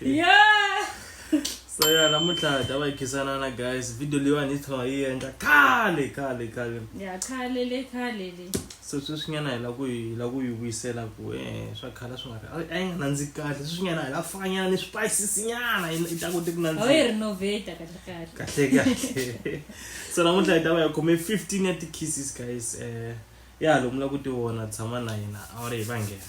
yeah so ya namuntlha hi ta va hi khisanana guys video leyiwani hi tlhela hi endla khale khale khale ya khale le khale le so sweswinyana hi la ku hi la ku yi vuyisela ku e swa khala swi nga a yi nga nandzi kahle sweswinyana hi la fanyana ni swipayisisinyana yi ta kote ku nandziha yi renovata kahle kahle kahle kahle so namuntlha hi ta va hi khome fifteen ya ti-kisses guys um ya lomu la ku ti vona tshama na hina a wu ri hi va nghena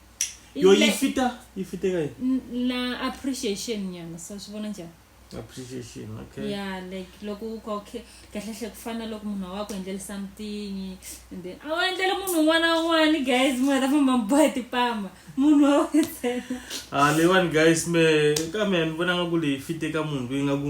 yo yi fita yi fite ka yini na appreciation nyana so swi vona njhani appreciation okay ya like loko u ka okay kahle hle ku fana loko munhu wa ku endlela something and then a wu endlela munhu un'wana na un'wana guys mi nga ta famba mi boha tipama munhu wa wena a ah, leyiwani guys me ka me ni vona nga ku leyi fite ka munhu loyi nga ku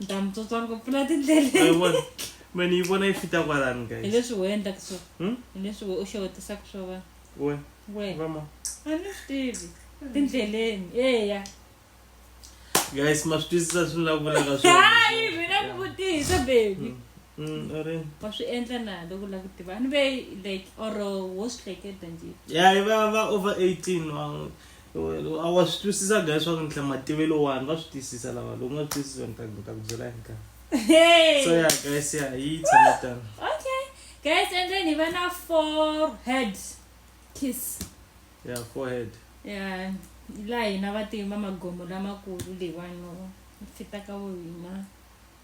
ni ta mi tsotsa ngopfu la tindleleni me ni yi vona yi fita kwalani guys hi leswi wena endlaka swona hmm? hi leswi we u xewetisaka swa vanhu we we vama a ni swi tivi tindleleni eya guys ma swi twisisa swi la vulaka swahayi mina ku vutisa baby hmm. Mm, wa swi endla na loko la ku tiva ni ve like or wo swi hleketa nje ya va va over eighteen a wa swi twisisa ga leswaku ni mativelo wani va swi twisisa lava loko nga swi twisisa ni ta ni ta ku byela hi nkarhi so ya guys ya yi tshame tano okay guys and then hi va na four head kiss ya four head ya laha hina vatima magomo lamakulu leyiwani fitaka wo hina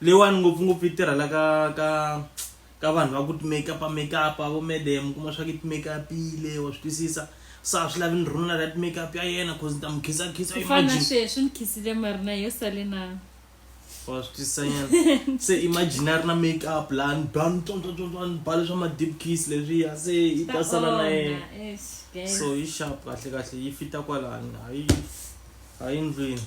leyiwani ngopfungopfu yi tirhela ka ka ka vanhu va ku timakeup makeup vo madam kuma swa ku timakeupile wa swi twisisa se a swi lavi ni rhununa ra timakeup ya yena cause ni ta n'wi khisakhisa ku fana na sweswi ni khisile marina yo sale na wa swi twisisanyana se imagine a ri na makeup laha ni ba ni tsontsontsontswa ni ba leswa ma-deep kiss leswiya se yi ta sala na yena so yi sharp kahle kahle yi fita kwalani hayi hayi ndlwini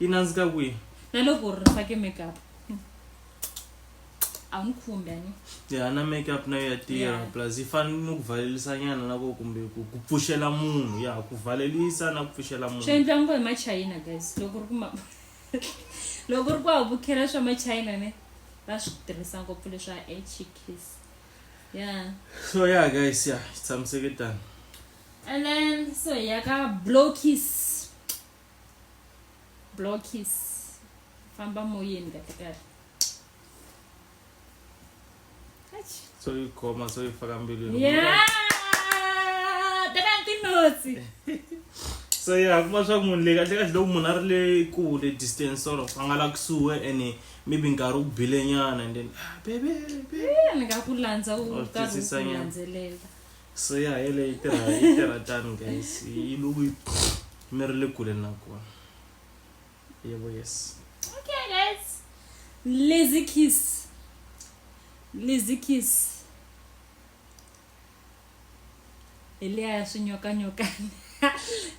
yi nandzika kwihi na loko ri fake makeup hmm. a n'wi khumbi ani ya na makeup na yo ya tirha plus yi fane ni ku valelisa nyana na ko kumbe ku ku pfuxela munhu ya ku valelisa na ku pfuxela munhu swi endla ngo hi machayina guys loko ri ku ma loko ri ku a vukhela swa machayina ne va swi tirhisa ngopfu leswa hks ya so ya guys ya tshamiseke tani and then so ya ka blow kiss blow kiss famba moyeni kahle kahle Eish. so yi khoma so yi faka mbilwini Yeah! Teka tinotsi. so ya kuma swa munhu le kahle kahle loko munhu a ri le kule distance sort of a nga la kusuhi ene maybe nkarhi wu bile nyana and then "Ah, bebe bebe Eh, ni nga ku landza u Or karhi u twisisa ku nyana. landzelela so ya hele yi tirha yi tirha tani guys yi loko yi mi ri le kule na kona yebo yes okay guys lazy kiss lazy kiss hi leya ya swinyokanyokana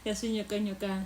ya swinyokanyokana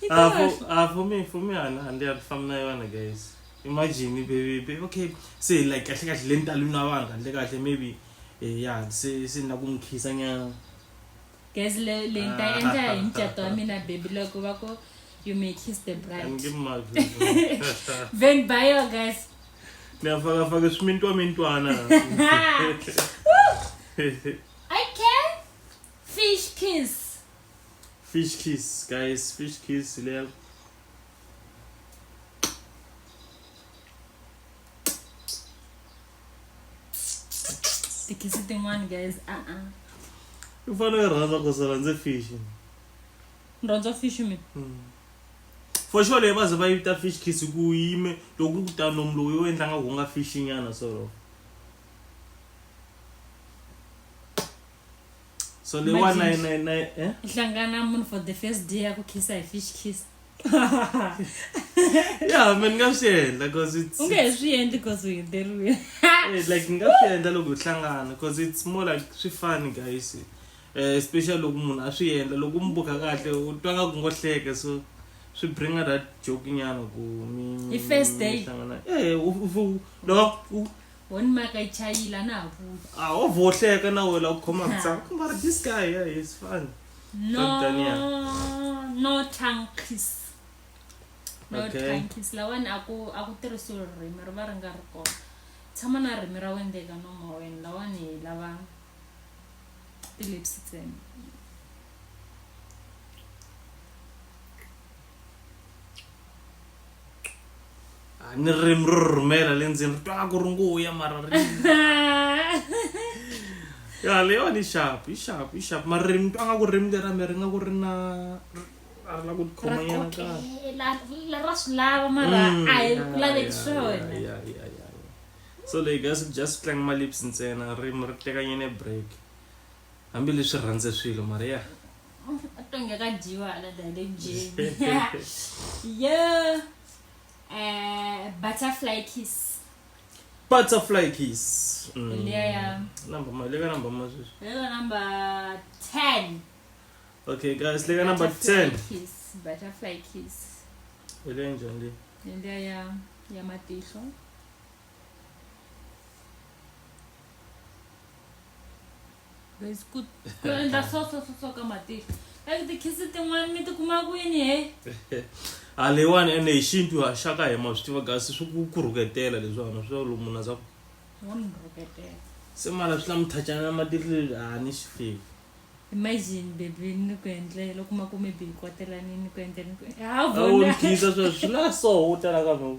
He Ah, can't. for, ah, for me, for me, and and they are from Naiwana, guys. Imagine, baby, baby, okay, say like kahle kahle le ntalwini wa vanhu kahle kahle maybe eh, ya se se na ku n'wi khisa nyana guys le le ni ta endla hi mucato wa mina baby loko va ku you may kiss the bride anike mavhi then by your guys ni ya fakafaka swimintwa mintwana i can fish kiss fish kiss guys fish kiss lel tikhisi tin'wana guys a a u fanele u rhandza ku sala ndzi fish ni rhandza fish mi hmm. for sure leyi va ze va yi vita fish kiss ku yime loko ku ta nomu lowu yo endla nga ku nga fish nyana solo so lewa Imagine. nine nine nine eh hlangana munhu for the first day ya ku khisa hi fish kiss yeah man nga swi endla cause it's u nge he swi endli because u heteriwile Eh, like nga swi endla loko hi hlangana cause it's more like swi fani guys Eh, especially loko munhu a swi endla loko u mi buka kahle u twa nga ku ngo hleke so swi bringa that joke nyana ku mi Hi first mi- mi date. hlangana. Eh, u- u- u- loko u- Wona maka yi chayile a na ha vuyi. a ho vohleka na wena u khoma Ha. ku mara this guy yeah, he's fun No, Daniel. no tongue kiss. No Okay. tongue kiss. Lawani a ku a ku tirhisiwi ririmi ri va ri nga ri kona. Tshama na ririmi ra wena eka nomo wa wena lawani hi lava ti-lips ntsena. Ah, ni ririmi ro rhumela le ndzeni ri twaka ku ri nguya mara ri ya leyiwani yi xapu yi xapu yi xapu mara ririmi twa nga ku ririmi lera mi ri nga ku ri na a ri la ku tikhoma nyana kahle ra swi lava mara mm, a hi ku laveki swona so leyi guys just tlanga malips ntsena ririmi ri teka nyene break hambileswi rhandze swilo mara ya yeah. atonge akadyiwa ana dade njee yo eh, butterfly kiss butterfly kiss Mm. Leya yam. Number ma- leka number ma sweswi lelo number 10 okay guys leka number Butterfly 10 kiss butterfly kiss ile njani le leliya ya ya matihlo Guys, ku ku endla so so so so ka matihlo. Like tikhisi tin'wana mi tikuma kwini he? a leyiwani ende hi xintu ha xa ka hema swi tiva kasi swi ku ku rhuketela leswiwana swi va lomu na swa ku Wa mi rhuketela. se mara swi lama thachana na matihlo leswi a ni swi fivi Imagine baby ni ku endlela loko ma ku maybe hi kwatelanini ni ku endlela ni ku ha a wu vona. ni khisa swa swi la so u tala ka no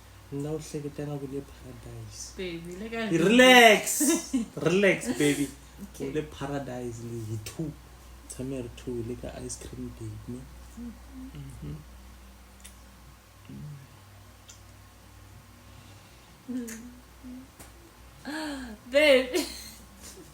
na u hleketa nga ku le paradise baby le ka relax relax baby okay. le paradise le hi two tshame ri two le ka ice cream date ne mm -hmm. mm. baby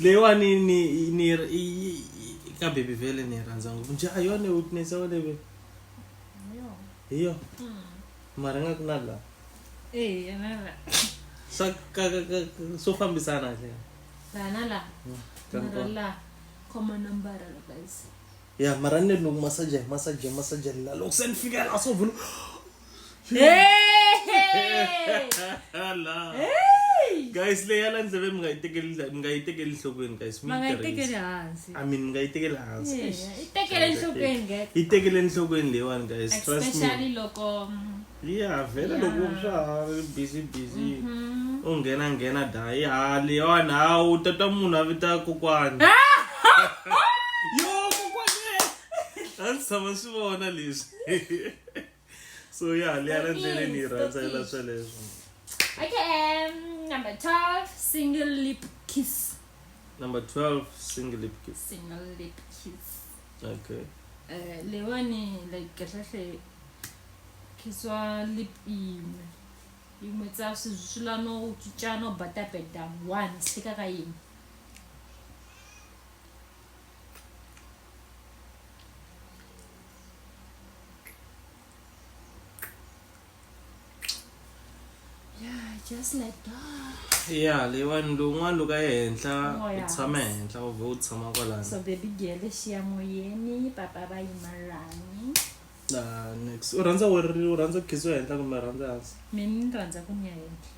leyiwani ni ni ka baby vele ni rhandza ngopfu nje a yona witness ya wena baby hi yo hmm. mara nga ku na la eh na la swa ka ka swo fambisana hle la na la hmm, na la khoma number guys ya mara ni loko masaji hi masaji hi masaji la loko se ni fika la so vula la guys leyi ya la ndzeve mi nga yi tekeli mi nga yi tekeli nhlokweni guys mi ma nga yi yi tekeli tirhisa hansi i mean mi nga yi tekeli hansi Yeah, yi tekele nhlokweni guys yi tekele nhlokweni leyiwani guys trust me especially loko mm, ya vhele loko swa ha ri busy busy u nghena nghena dayi ha leyiwani ha u ta twa munhu a vita kokwani yo kokwani a ndzi tshama swi vona leswi so ya leya la ndleleni yi rhandzela sweleswo okay um, number 12 single lip kiss number 12 single lip kiss single lip kiss okay uh, leyiwani like kahlekahle khiswa lip iṅwe iṅwe tsa zwithu zwisula no u tswitsha no bata beda one sika ka iṅwe just like that ya leyiwani lowun'wana loko ya henhla oh, u tshama henhla u vhe u tshama kwalani so baby girl xiya moyeni papa va yimalani Ah, nix u rhandza wo ri- u rhandza ku khidziwa henhla kumbe u rhandza hansi mina ni rhandza ku ni ya henhla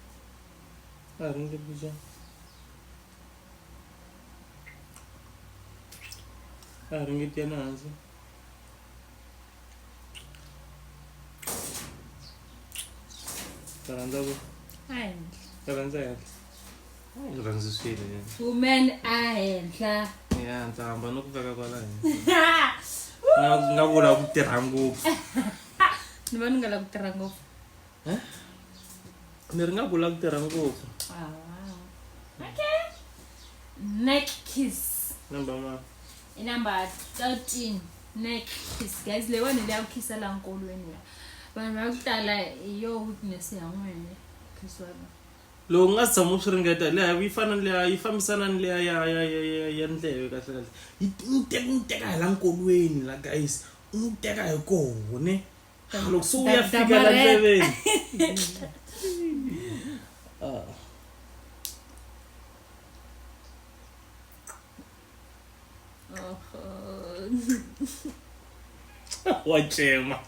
a hi ringe bija a hi ringe tiyana hansi u rhandza ku a henhla u rhandza henhla Ndzi rhandzisile yena. Woman a henhla. Ya ndzi hamba no ku veka kwala henhla. Nga nga vula ku tirha ngopfu. Ni va ni nga la ku tirha ngopfu. Eh? Ni ri nga vula ku tirha ngopfu. Ah, wow. Okay. Neck kiss. Namba ma. I number 13 neck kiss. Guys, leyiwani leya ku khisa la nkolweni ya. Vanhu va ku tala hi yo weakness ya n'wina. Kiss wa vona. loko u nga si tshama u swi ringeta leya yi fana ni leya yi fambisana ni leya ya ya ya ya ya ndleve kahle kahle yi n'wi teka n'wi teka hi la nkolweni la guys u n'wi teka hi koho ne Ah, loko se u ya Da- fika la damarhela. ndleveni Ah. wa cema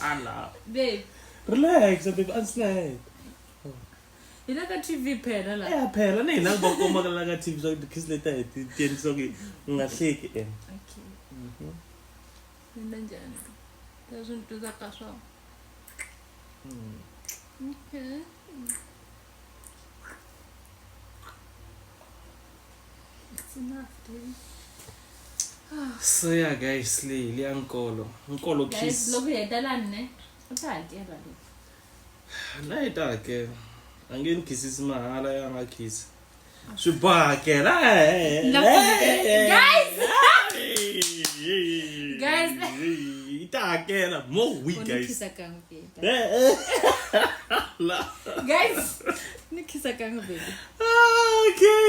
Ala. babe relax babe a ndzi na yena hina ka tv phela la ya phela ni hina va komakela ka tv swa kiss leta hi ti tiendlisa ku u nga hleki en okay mhm mina njani leswi ni tuza ka swona mhm. okay it's enough dude so ya guys leyi leya nkolo nkolo kiss loko hi heta lani ne u ta hakela loko na yi ta hakela a nge ni khisisi mahala ya nga khisi swi boha hakela yi ta hakela mo week guys guys ni khisa kanga baby okay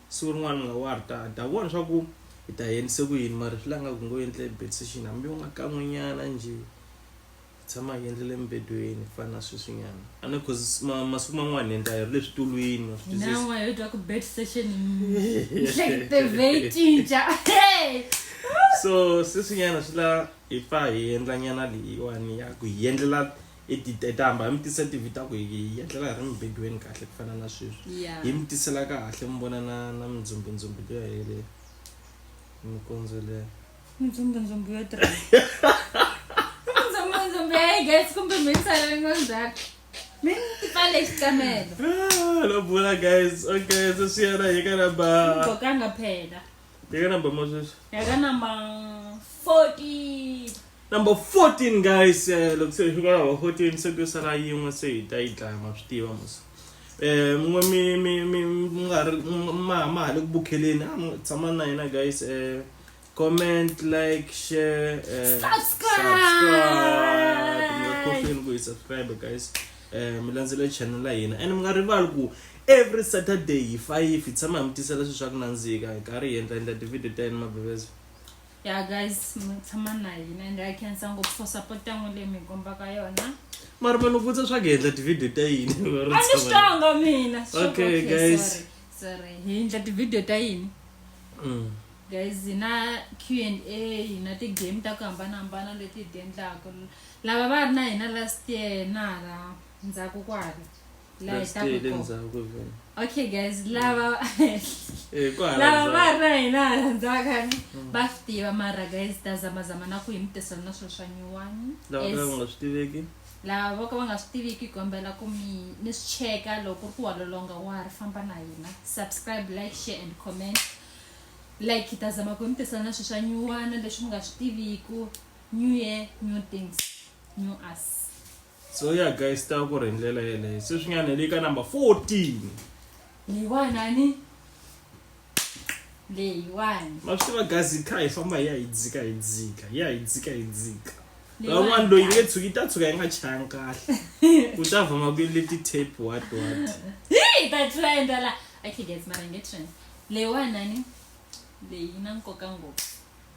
siku rin'wana ni nga wa ri ta ta vona swa ku hi ta yendise ku yini mara swi la nga ku ngo endle bed session hambi u nga kan'wenyana njhe tshama hi endlele embedweni ku fana na sweswinyana a ni cause masiku man'wana hi endla hi ri le switulwini wa swi nawa hi twa ku bed session nhlekete veyicinca so sweswinyana swi la hi pfa hi endla nyana leyiwani ya ku hi endlela i titetamba hi mi tisa tivi ta ku hi hi etlela hi ri mibedweni kahle ku fana na sweswi Yeah. hi mi tisela kahle mi vona na na mindzumbidzumbi liya hele minkondzo leya mindzumbidzumbi yo tirha mindzumbidzumbi ya yi gets kumbe minsalengo ndzhaku mi ni tipale xikamelo Ah, lo bula guys okay se swi yena hi ka namba gqokanga phela Take number, Moses. Take number 14. Number 14, guys. Uh, look, so you got number 14. So, go sana yi yin'we se hi ta yi dlaya ma swi tiva musa um n'we mi mi mi nga ri ma ma ha le ku bukheleni a mi tshama na hina guys um comment like share uh, subscribe, subscribe. nga khohlweni ku yi subscribe guys eh, mi landzela channel ya hina and mi nga rivali ku every saturday hi fayifi hi tshama hi mi tisela swilo swa ku nandzika hi karhi hi endla endla tivhidiyo ta yena mabebezo ya guys mi tshama na hina and i cansa ngopfu for support ya n'wi leyi mi hi kombaka yona mara ma ni vutisa swa ku hi endla tivhidiyo ta yini a ni swi twanga mina swi twanga, Okay, okay, guys. sorry, sorry hi endla tivhidiyo ta yini Mm. guys hi na q and a hi na ti-game ta ku hambanahambana leti hi ti endlaka lava va ri na hina last year na hala ndzhaku kwala laha hi Last taku year le kona. ndzhaku ku vona. okay guys lava Eh, ku hala lava va ndzhaku. ri na hina hala ndzhaku khale va swi tiva mara guys ta zamazama na ku hi mi tirhisana na swilo swa nyuwani Lava ka va nga swi tiveki. lava vo ka va nga swi tiviki hi kombela ku mi ni swi cheka loko ku ri ku wa lolonga wa ha ri famba na hina subscribe like share and comment like hi ta zama ku hi mi tirhisana na swilo swa nyuwana leswi mi nga swi tiviku new year new things new us so ya yeah, guys ta ku ri hi ndlela yeleyo sweswinyana hi le ka number 14 leyiwanani leyiwani ma swi tiva guys hi kha hi famba hi ya hi dzika hi dzika hi ya hi dzika hi dzika van'wana loyi nge tshuki ta tshuka yi nga chayanga kahle ku ta vama ku yele ti-tape what what hi ta tlula endla la akigets mara nge trend leyiwanani leyi na nkoka ngopfu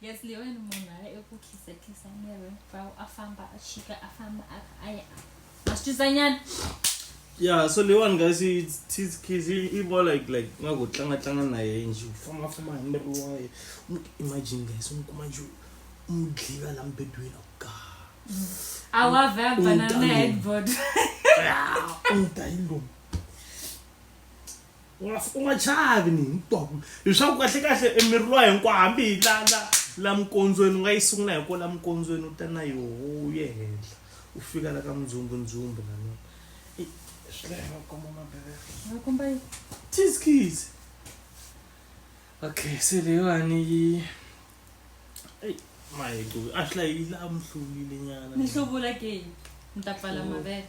yes leyi wena munhu a ya eku khisekhesani ya wena fa a famba a chika a famba a kha a ya a swi twisanyana yeah so leyiwani guys tis kids i more like like nga ku tlanga tlanga na yena nje u famba famba hi miri wa yena u imagine guys u n'wi kuma nje u n'wi dliva la mbedweni a ku gaa a wa vhe a banana headboard u n'wi ta hi lomu u nga u nga chavi ni hinkwako leswaku kahle kahle emiri lowa hinkwawo hambi hi la la la minkondzweni u nga yi sungula hi ko la minkondzweni u ta na yoho u ye henhla u fika la ka mindzumbudzumbu lana tiskis okay se leyiwani yi eyi maheco a swi la yi la mhluvile nyana ni hluvula ke ni ta pfala mavele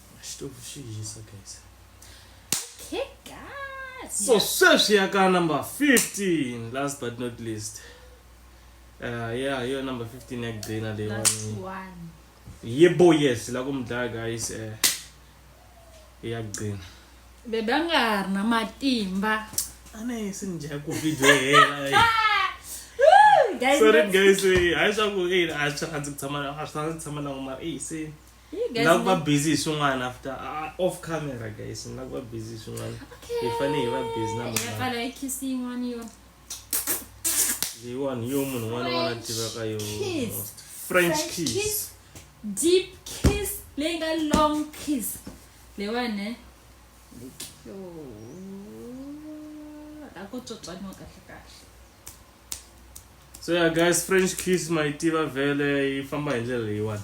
xitofu xi hisa guys okay guys so yeah. sweswi ya ka number 15 last but not least uh, yeah yo number 15 ya kugcina leyiwani yebo yes la ku mi dlaya guys um uh, ya kugcina bebe a nga ha ri na matimba a ne se ni dya ku video hela eh. sorry guys eh, hayi swa ku a swi rhandzi ku tshama a swi rhandzi ku tshama na ku mara eyi se nga ku va busy hi swin'wana after uh, off camera guys nga ku va busy hi swin'wana hi fane hi va busy na leyiwani yo munhu un'wana un'wana tivaka yo french kiss deep kiss leyi nga long kiss leyiwani eh? yo a ko tswotswaniwa kahle kahle so yeah guys french kiss ma yi tiva vhele yi famba hi ndlela leyiwani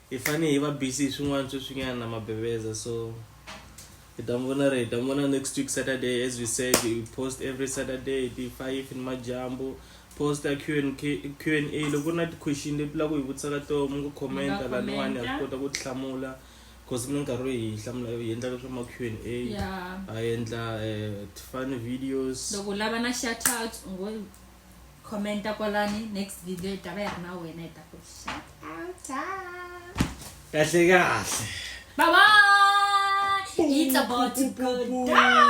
Hi fane hi va busy hi swin'wana sweswinyana na mabeveza so hi ta n'wi vona ri hi ta n'wi vona next week saturday as we said we post every saturday ti five ni majambu post ya q and k q and a loko ku ri na ti-question leti la ku hi vutisa ka toho mi ngo commenta laniwani ha swi kota ku ti hlamula because ku na nkarhi loyi hi hlamula hi endlaka swa ma q and a Yeah. ha endla um ti-fun videos Loko u lava na shout out, u ngo commenta kwalani next video yi ta va yi ri na wena yi ta ku shout out kahle kahle bye bye it's about to go down